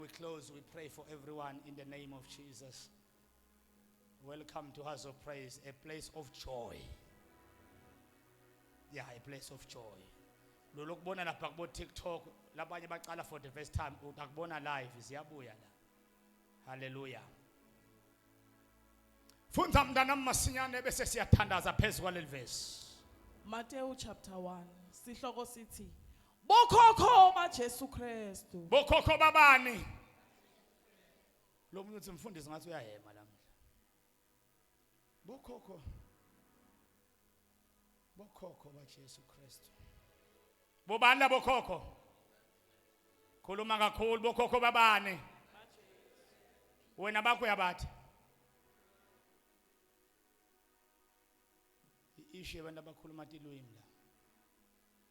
we close, we pray for everyone in the name of Jesus. Welcome to House of Praise, a place of joy. Yeah, a place of joy. Lolo kubona lapha kubo TikTok labanye baqala for the first time utakubona live ziyabuya la. Hallelujah. Fundza mntana masinyane bese siyathandaza phezulu kwaleli verse. Matthew chapter 1 sihloko sithi Bokhokho baJesu Kristu. Bokhokho babani? Lo muntu uthi mfundisi ngathi uyahema lamhla. Bokhokho. Bokhokho baJesu Kristu. Bobani labo khokho? Khuluma kakhulu bokhokho babani? Wena bakho uyabathi. Ishe abantu abakhuluma tilwimi la.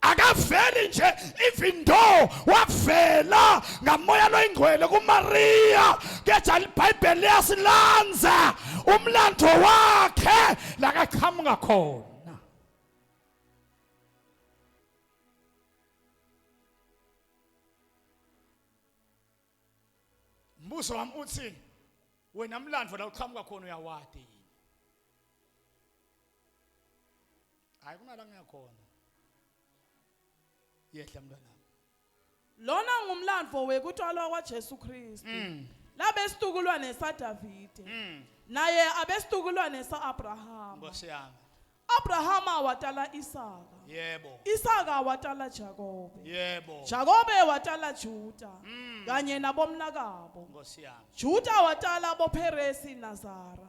akaveli nje even though wavela ngamoya loyingcwele kumariya kepha libhayibheli liyasilanza umlando wakhe lakaqhamuka khona mbuzo wami uthi wena mlando la uqhamuka khona uyawadi yini hayi kunala ngiyakhona yehla mntwana lona ngumlandvo wekutalwa kwajesu kristu mm. labe situkulwane sadavide mm. naye abe situkulwane sa-abrahama nkosi yami abrahama watala isaka yebo isaka watala jakobe yebo jakobe watala juda mm. kanye nabomnakabo nkosi yami juda watala boperesi nazara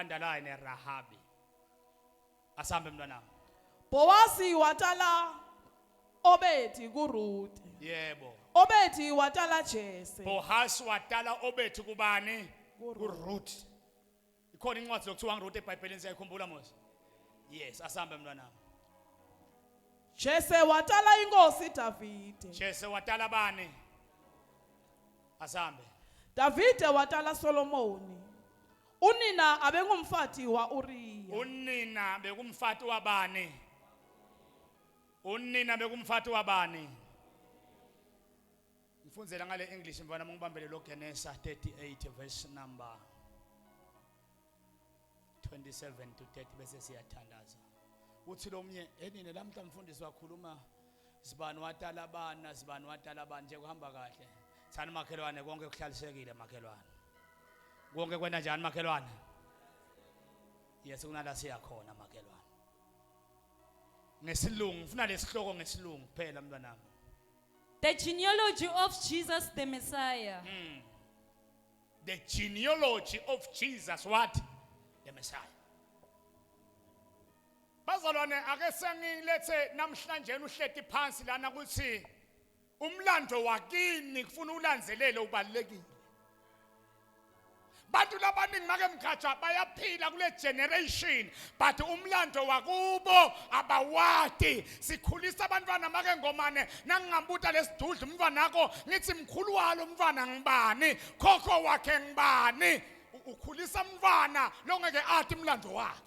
underline Rahabi asambe mntwana Bowazi watala Obedi kuRuth yebo Obedi watala Jese Bohas watala Obedi kubani kuRuth ikhona incwadi lokuthiwa ngiRuth eBhayibhelini siyayikhumbula mos yes asambe mntwana Jese watala inkosi Davide Jese watala bani asambe Davide watala Solomoni Unina abengumfati wa-Uriya. Unina bekumfati wabani? Unina bekumfati wabani? Ngifundzela ngale English mfana mungibambele lo Genesa 38 verse number 27 to 30 bese siyathandaza. Uthi lomnye enine lamhla mfundisi wakhuluma Sibani watalabana, sibani watalabana nje kuhamba kahle. Thani makhelwane konke kuhlalisekile makhelwane. Konke kwenda njani makhelwane? Yes kunala siya khona makhelwane. Ngesilungu ngifuna lesihloko ngesilungu kuphela mntwanami. The genealogy of Jesus the Messiah. Mm. The genealogy of Jesus what? The Messiah. Bazalwane ake sengilethe namhlanje uhleti phansi lana ukuthi umlando wakini kufuna ulandelele ubalekile. Bantu labaningi make mgatsha bayaphila kule generation but umlando wakubo abawati sikhulisa abantwana make ngomane nangingambuta lesidudla umntwana wakho ngithi mkhulu walo umntwana ngibani khokho wakhe ngibani ukhulisa umntwana longeke athi umlando wakhe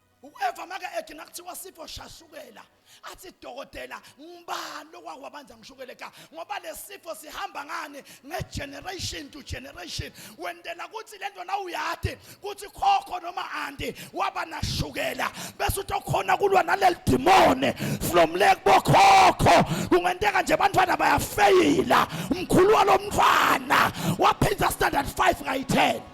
ueva make ethi nakuthiwa sifo shashukela athi dokotela ngibani okwakwabanja ngishukele ka ngoba lesifo sihamba ngani ngegeneration to generation wendela ukuthi lento na uyati ukuthi khokho noma andi waba nashukela bese utokhona kulwa naleli demone from le kubokhokho kungenteka nje abantwana bayafeyila umkhulu walomntwana waphinda standard 5 ngayi 10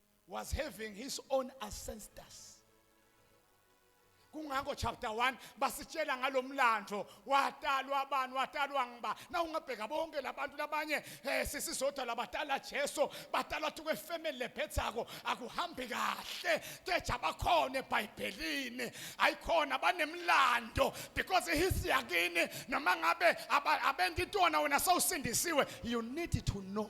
was having his own ancestors kungakho chapter 1 basitshela ngalomlando watalwa abantu watalwa ngiba na ungabheka bonke labantu labanye eh sisizodwa labatala Jesu batalwa tukwe family lephethako akuhambi kahle keja bakhona eBhayibhelini ayikhona banemlando because his yakini noma ngabe abenditona wena sawusindisiwe you need to know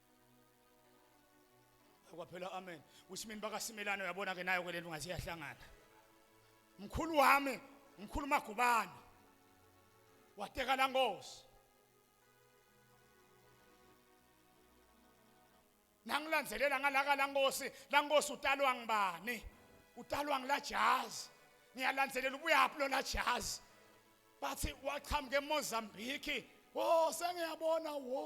kwaphela amen kusimini bakasimelane uyabona ke nayo ke lento ngathi iyahlangana mkhulu wami mkhulu magubane wateka la ngosi nangilandzelela ngalaka la ngosi la ngosi utalwa ngibani utalwa ngila jazi ngiyalandzelela ubuyaphi lona jazi bathi waqhamuka emozambiki wo sengiyabona wo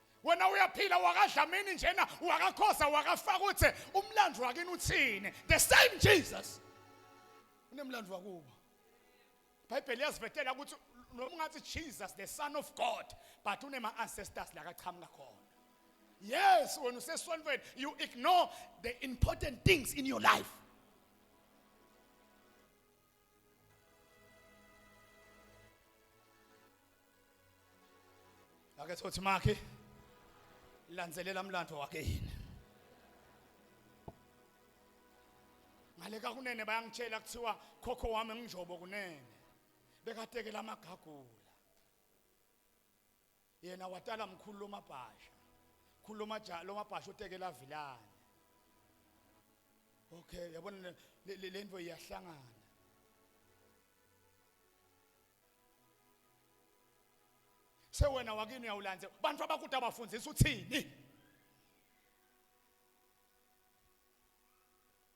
wena uyaphila wakadlamini njena wakakhoza wakafaka uthi umlando wakini uthini the same jesus unemlando wakubo ibhayibheli yazivetela ukuthi noma ungathi jesus the son of god but unema-ancestors la kachamuka khona yes wena usesonweni you ignore the important things in your life ake thothi makhe landzelela mlando wakhe yini ngale ka kunene bayangitshela kuthiwa khokho wami nginjobo kunene bekatekela amagagula yena watala mkhulu lomabhasha khulu lomaja lomabhasha utekela vilane okay yabona lento iyahlangana sewena wakini uyawulandze bantu abakude abafundisa uthini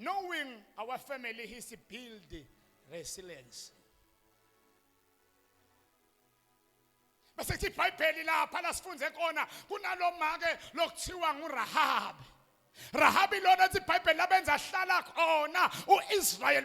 Knowing our family history build resilience. Base kuthi iBhayibheli lapha lasifunze kona kunalomake lokuthiwa nguRahabi. Rahabi lona iBhayibheli labenza hlala khona uIsrael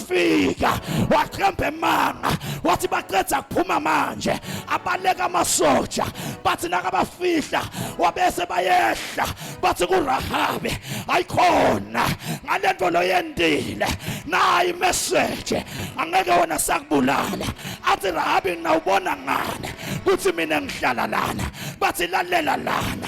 wafika waqamba emanga wathi baqeda kuphuma manje abaleka amasoja bathi nakabafihla wabese bayehla bathi kurahabe ayikhona ngale nto loyendile nayi imeseje angeke wona sakubulala athi rahabi nawubona ngane kuthi mina ngihlala lana bathi lalela lana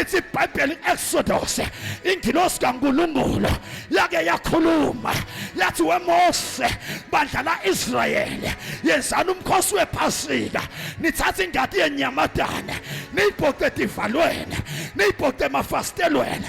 ithi ibhayibheli exodus ingilosi kankulunkulu yake yakhuluma yathi wemose bandla la-israyeli yenzani umkhosi wephasika nithathe ingadi yenyamadane niyibhoce edivalweni niyibhoce emafasitelweni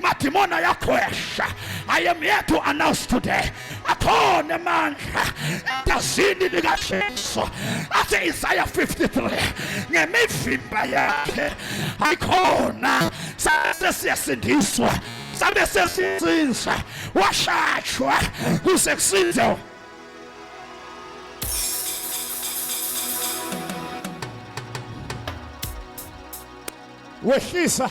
Madimoni ayakhwesha. I am here to announce today. Akhona amandla egazini likaJesu athi Isaya 53 ngemivimba yakhe ayikhona sase siyasindiswa sabe sesizinza washatshwa kuze kusinze wehlisa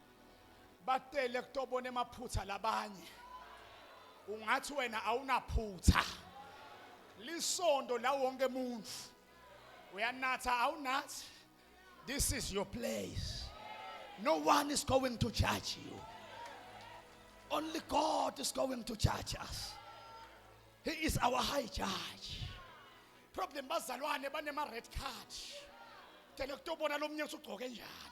bacele kutobona emaphutha labanye ungathi wena awunaphutha lisondo la wonke umuntu uyanatha awunathi this is your place no one is going to judge you only god is going to judge us he is our high judge problem bazalwane banema red card tele kutobona lomnye usugcoke njani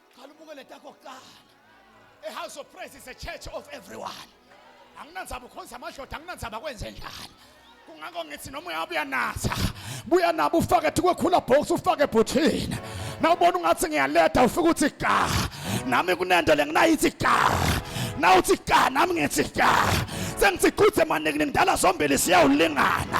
qala ubuke le takho kuqala ihouse of praise is a church of everyone anginandzaba ukhonza amadoda anginandzaba kwenze njani kungako ngithi noma uyabe uyanatha buya nabo ufake kwekhula box ufake ebhuthini nawubona ungathi ngiyaleda ufike uthi ka nami kunento le nginayithi ka nawuthi ka nami ngithi ka sengithi quthe maningi ngidala zombili siyawulingana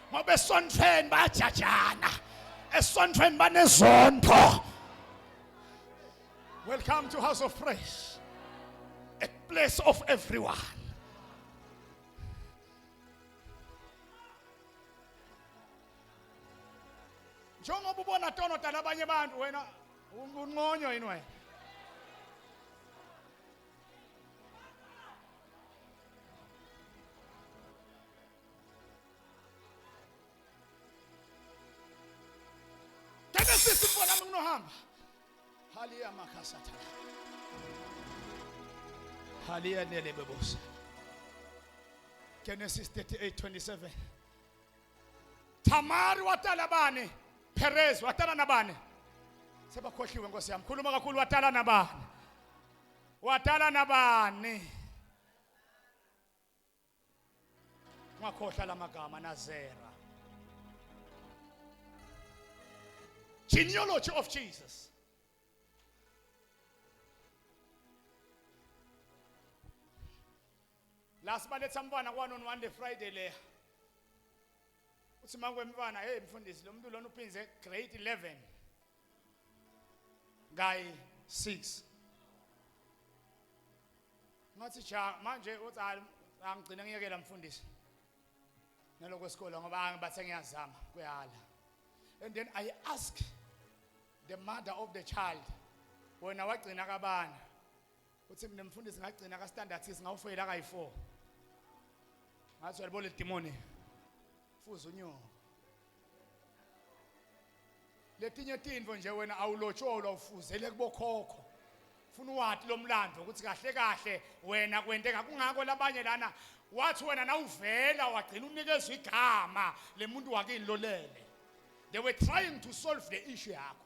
ngoba esontweni bayajajana esontweni banezondo welcome to house of praise a place of everyone njengoba ubona tonodana abanye abantu wena unqonywa yini wena Take a sister for them no harm. Halia makasata. Halia nele bebosa. Genesis 38 27. Tamari watala bani? Perez watala na bani? Sebakhohliwe nkosi yami. Khuluma kakhulu watala na bani? Watala na bani? ungakhohlwa la magama nazera genealogy of jesus la sibaletha mntwana kwanoni one day friday leya uthi makwemntwana hey mfundisi lo muntu lona uphinze grade 11 guy 6 ngathi cha manje uthi angigcine ngiyekela mfundisi naloko sikole ngoba angibathe ngiyazama kuyahala and then i ask the mother of the child wena wagcina kabani uthi mina mfundisi ngagcina ka standard 6 ngawufeyila kayi 4 ngathi uyalibo le demoni fuza unyoko letinye tintfo nje wena awulotsholwa ufuzele kubokhokho funa uwati lomlando ukuthi kahle kahle wena kwenteka kungako labanye lana wathi wena nawuvela wagcina unikezwa igama lemuntu wakini lolele they were trying to solve the issue yakho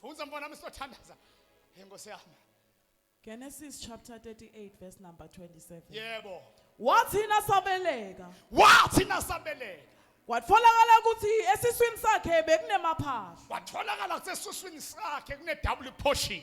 Funza mfana wami sothandaza. Hey Nkosi yami. Genesis chapter 38 verse number 27. Yebo. Wathi nasabeleka. Wathi nasabeleka. Kwatholakala ukuthi esiswini sakhe bekunemaphahla. Kwatholakala ukuthi esiswini sakhe kune double portion.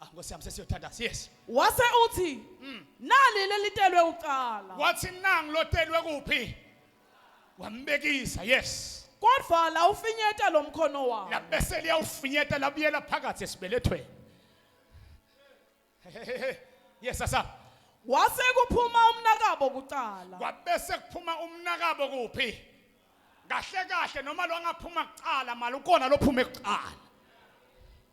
Ah Nkosi yami sesiyothandaza. Yes. wase uthi Mm. nali lelitelwe ucala Wathi nangi lotelwe kuphi? Wambekisa. Yes. kodwa la ufinyeta lo mkhono wami Labese liyawufinyeta labuyela phakathi esibelethweni. Yes sasa. wase kuphuma umnakabo kucala Kwabese kuphuma umnakabo kuphi? Kahle kahle noma lo angaphuma kucala mali ukona lophuma ekucala.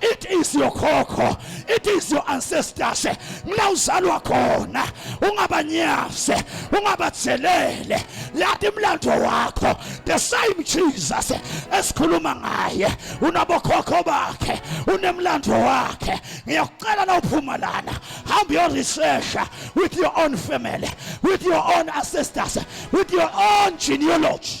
it is your khokho it is your ancestors mla uzalwa khona ungabanyaze ungabajelele lathi imlando wakho the same Jesus esikhuluma ngaye unabokhokho bakhe unemlando wakhe ngiyakucela na uphuma lana hamba your research with your own family with your own ancestors with your own genealogy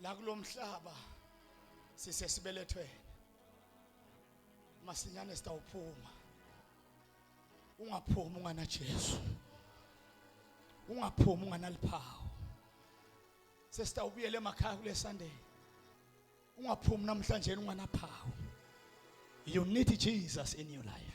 la kulomhlaba sisesibelethweni masinyane sitawuphuma ungaphumi ungana Jesu ungaphumi unganaliphawu sesitawubuyela emakhaya kule Sunday ungaphumi namhlanje unganaphawu you need Jesus in your life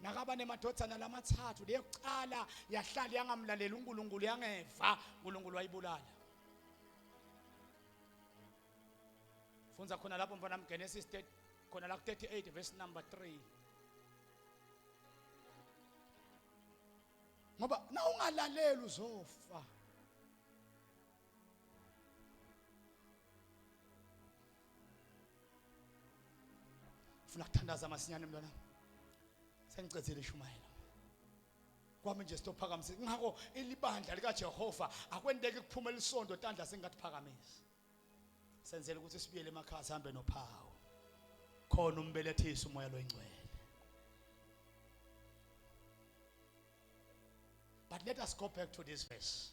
nakaba nemadodana lamathathu leyokuqala yahlala yangamlaleli uNkulunkulu yangeva uNkulunkulu wayibulala Fundza khona lapho mfana mGenesis khona la 38 verse number 3 ngoba na ungalaleli uzofa funa kuthandaza masinyane mntwana sengicedzile ishumayela kwami nje sitophakamise ngakho ilibandla likaJehova akwenteki kuphuma elisonto tandla singatiphakamisi senzele ukuthi sibuyele emakhaya sihambe nophawu khona umbelethisa umoya loyingcwele but let us go back to this verse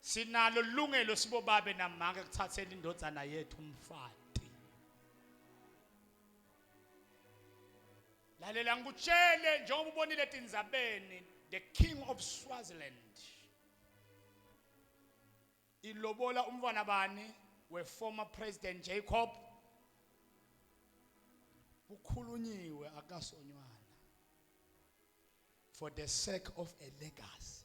Sinalo ilungelo sibobabe namanga ekuthatheni indodana yethu umfati. Lalela ngikutshele njengoba ubonile etindzabeni the king of Swaziland. Ilobola umntwana bani we former president Jacob kukhulunyiwe akasonywana for the sake of a legacy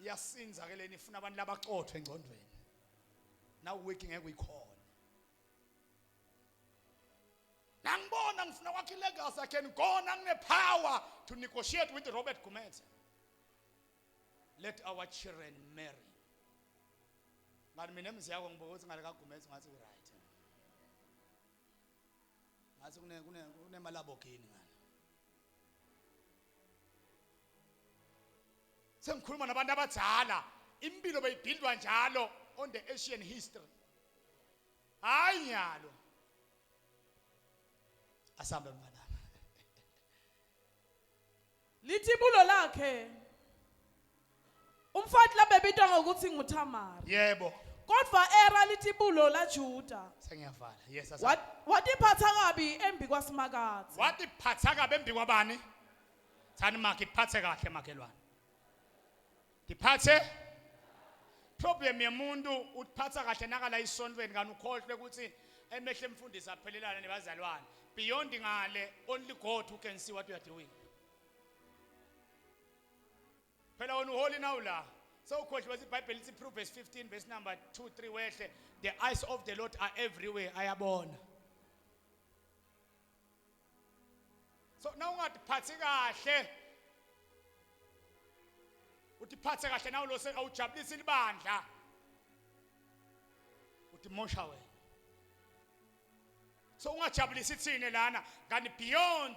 iyasinza ke leni ifuna abantu labaxothwe engcondweni now wiki ngeke uyikhona nangibona ngifuna kwakhe ilegacy i can go nanginepower to negotiate with robert gumede let our children marry ngani mina emzi yakho ngibuka ukuthi ngale kagumede ngathi uright ngathi kunemalabogini ngani sengikhuluma nabantu abadala impilo beyibhindwa njalo on the asian history hayi nyalo asambe mfana lithi ibulo lakhe Umfati labebitwa ngokuthi nguThamari. Yebo. Kodwa era lithi bulo laJuda. Sengiyavala. Yes, asa. Wat- Watiphatha kabi embi kwaSimakadze. Watiphatha kabi embi kwabani? Thani makhe kuphathe kahle makhelwane. Ngiphathe problem yemuntu utiphatha kahle nakala isontweni kanti ukhohlwe ukuthi emehle emfundisi aphelelana nebazalwane. Beyond ngale only God who can see what you are doing. phela wena uholi nawu la sewukhohliwe ibhayibheli lithi proverbs 15 verse number 2 3 wehle the eyes of the lord are everywhere ayabona so na ungatiphatsi kahle utiphatse kahle nawu lose awujabulisi libandla utimosha wena so ungajabulisi thine lana kanti beyond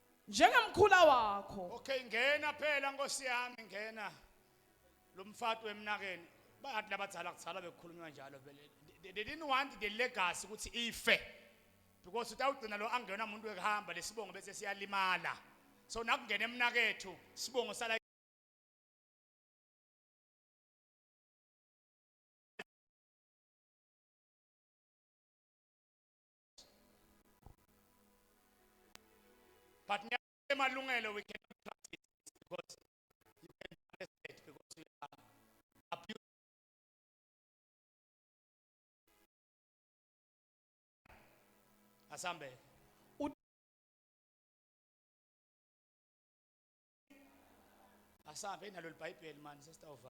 njengemkhula wakho okay ngena phela nkosi yami ngena lo mfati wemnakeni bayathi labadzala kuzala bekukhulunywa njalo vele they didn't want the legacy ukuthi ife because utawugcina lo angena umuntu wekuhamba lesibongo bese siyalimala so nakungena emnakethu sibongo sala But Malungelo, we cannot trust it because you can be arrested because you are abused. Asambe. Asambe nalo libhayibheli manje sesitawuvala.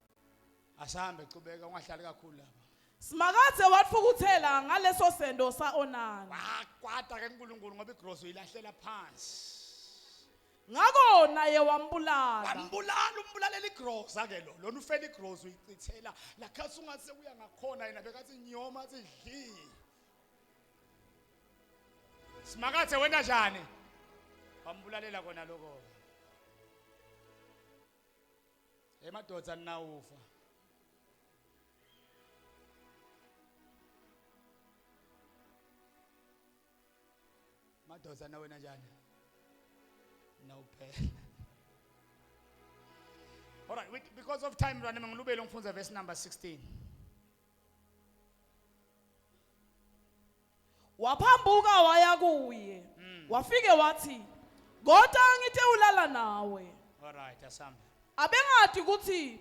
Asambe qhubeka ungahlali kakhulu lapha. Simakadze watfukutsela ngaleso sento sa-Onani. Wakwata ke uNkulunkulu ngoba igross uyilahlela phansi. Ngako naye wambulala. Wambulala umbulalela igroza ke lo. Lona ufela igross uyichithela lakhathi ungase uya ngakhona yena bekathi nyoma athi dli. Simakadze wena njani? Wambulalela kona lokho. Hey madoda ninawufa. Madoda na wena njani? Nawuphela. All right, we, because of time run ngilubele ngifunza verse number 16. Waphambuka waya kuye. Mm. Wafike wathi, "Kodwa ngithe ulala nawe." Alright, asambe. Abengadi ukuthi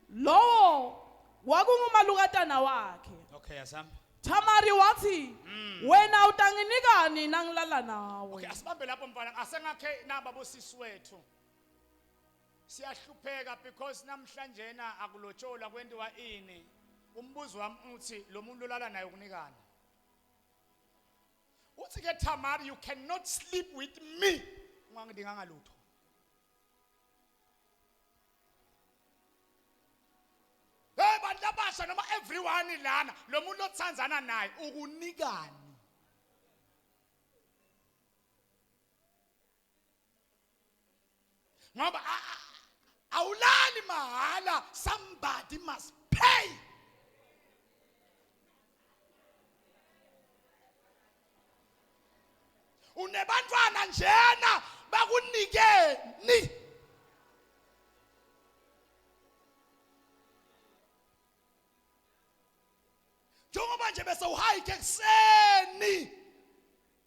lowo kwakungumalukatana wakhe. Okay, asambe. Tamari wathi, Mm. "Wena utanginikani nangilala nawe?" Okay, asibambe lapho mfana. Asengakhe naba bosisi wethu. Siyahlupheka because namhlanjena akulotsholwa kwentiwa ini. Umbuzo wami uthi lo muntu olala naye ukunikani? Uthi ke Tamar you cannot sleep with me. Ungangidinganga lutho. Hey bantu abasha noma everyone lana lo muntu othandzana naye ukunikani? ngoba awulali mahala somebody must pay unebantwana njena bakunikeni njengoba nje bese uhayike ekuseni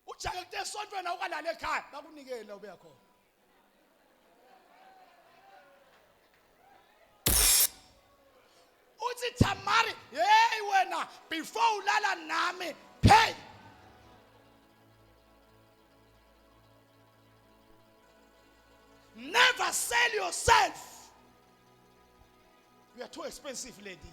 ujake kute esontweni awukalala ekhaya bakunikele la ubeya khona uthi Tamari hey wena before ulala nami hey never sell yourself you are too expensive lady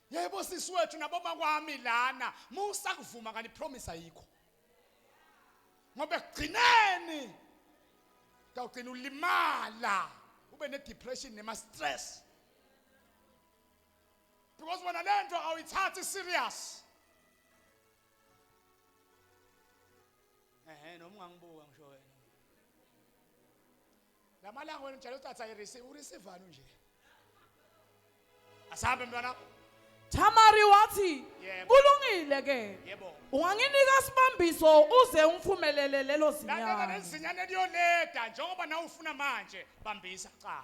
Yebo sisi wethu naboma kwami lana musa kuvuma kanti promise ayikho. Ngoba ekugcineni kawugcina ulimala ube ne depression nema stress. Because wena lento awuyithathi serious. Ehe noma ungangibuka ngisho wena. Lamalanga wena njalo utatha irisi urisivani nje. Asahambe mntwana. Tamari wathi Yebo. kulungile ke Yebo. unganginika sibambiso uze ungifumelele lelo Lalela zinyane lezinyane liyoneda njengoba nawe ufuna manje bambisa cha.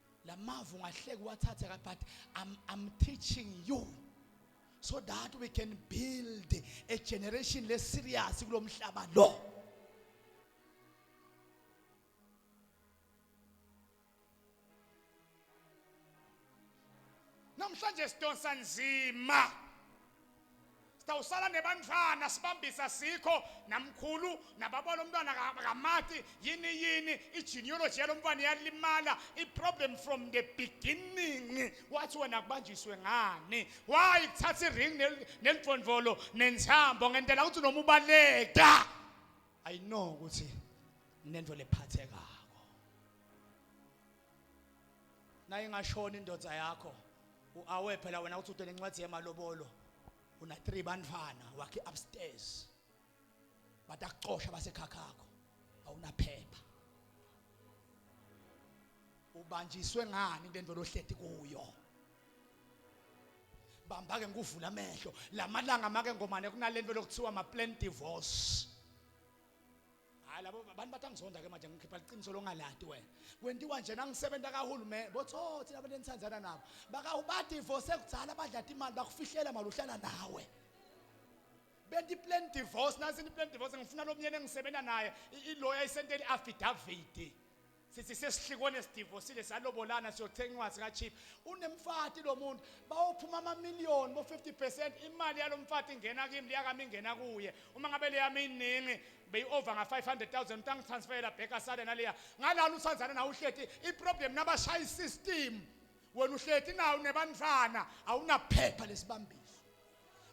lamavu ngahleki wathathe ka but I'm, I'm teaching you so that we can build a generation le serious kulomhlaba lo namhlanje sidonsa nzima sitawusala nebantfwana sibambisa sikho namkhulu nababa lomntwana kamati yini yini i-genealogy yalomntwana iyalimala i-problem from the beginning wathi wena kubanjiswe ngani why kuthatha i-ring nelidvondvolo nenthambo ngentela ukuthi noma ubaleka i know ukuthi nento lephathekako nayingashona indoda yakho uawe phela wena uthi uthe nencwadi yemalobolo una 3 bantwana wakhe upstairs batakuxosha basekhakhakho awunaphepha ubanjiswe ngani into endvelo ohleti kuyo bamba ke ngikuvula amehlo lamalanga make ngomane kunalento lokuthiwa ma plan divorce hayi labo abantu bathi angizonda ke manje ngikhipha liqiniso longalati wena kwentiwa nje nangisebenza kahulumeni botho thina abantu enithandana nabo bakawubadivorce kudzala badlata imali bakufihlela mali uhlala nawe benti plan divorce nansi ni plan divorce ngifuna lomnyeni engisebenza naye iloya isenteni affidavit Sithi sesihlikone sidivosile salobolana siyothenga incwadi ka cheap. Unemfati lo muntu bawophuma ama million bo 50% imali yalomfati ingena kimi liyakami ingena kuye. Uma ngabe leyami iningi beyi over nga 500,000 mtangi transferela back asale naleya. Ngalana uthandana nawe uhleti i problem nabashaya system. Wena uhleti nawe nebantwana awunaphepha lesibambiso.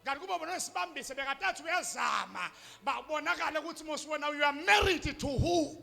Kanti kuba bona sibambise bekatathu uyazama babonakala ukuthi mosiwona you are married to who?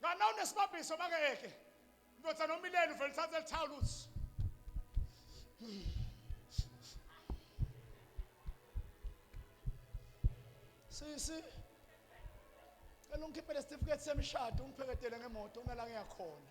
ngana unesibabhiso makeke ndoda nomileni uvele uthathe lithawula uthi sisi cela ungikhiphele isitifiketi semishado ungipheketele ngemoto unala ngiyakhona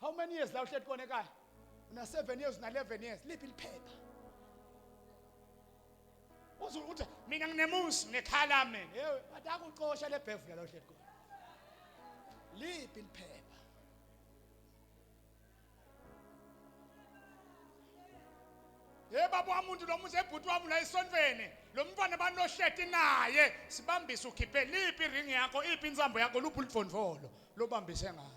how many years la uhleli kona ekhaya una 7 years una 11 years liphi liphepha uze uthi mina nginemusi ngekhaya lami yewe bathi akucosha le bhevula la uhleli kona liphi liphepha Hey baba wamuntu lo muzi ebhuti wami la esontweni lo mntwana banohleti naye sibambise ukhiphe liphi ring yakho iphi insambo yakho luphi ulifondvolo lobambise ngalo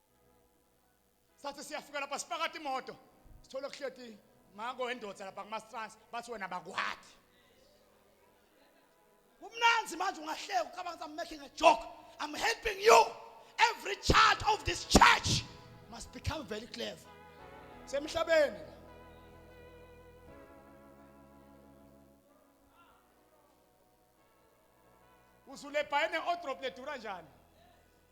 sathi siyafika lapha sipakade imoto sithole kuhleti mako wendoda lapha kumastrans bathi wena bakwakhe kumnanzi manje ungahleka ucabanga I'm making a joke I'm helping you every child of this church must become very clever semhlabeni uzulebhayene odrop ledura njani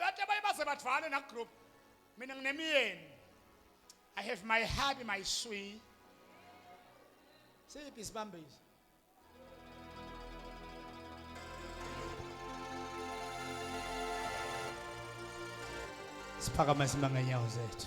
Wathi abanye baze badvale na group. Mina nginemiyeni. I have my hubby my sweet. Siphi sibambisi? Siphakama simanga nyawo zethu.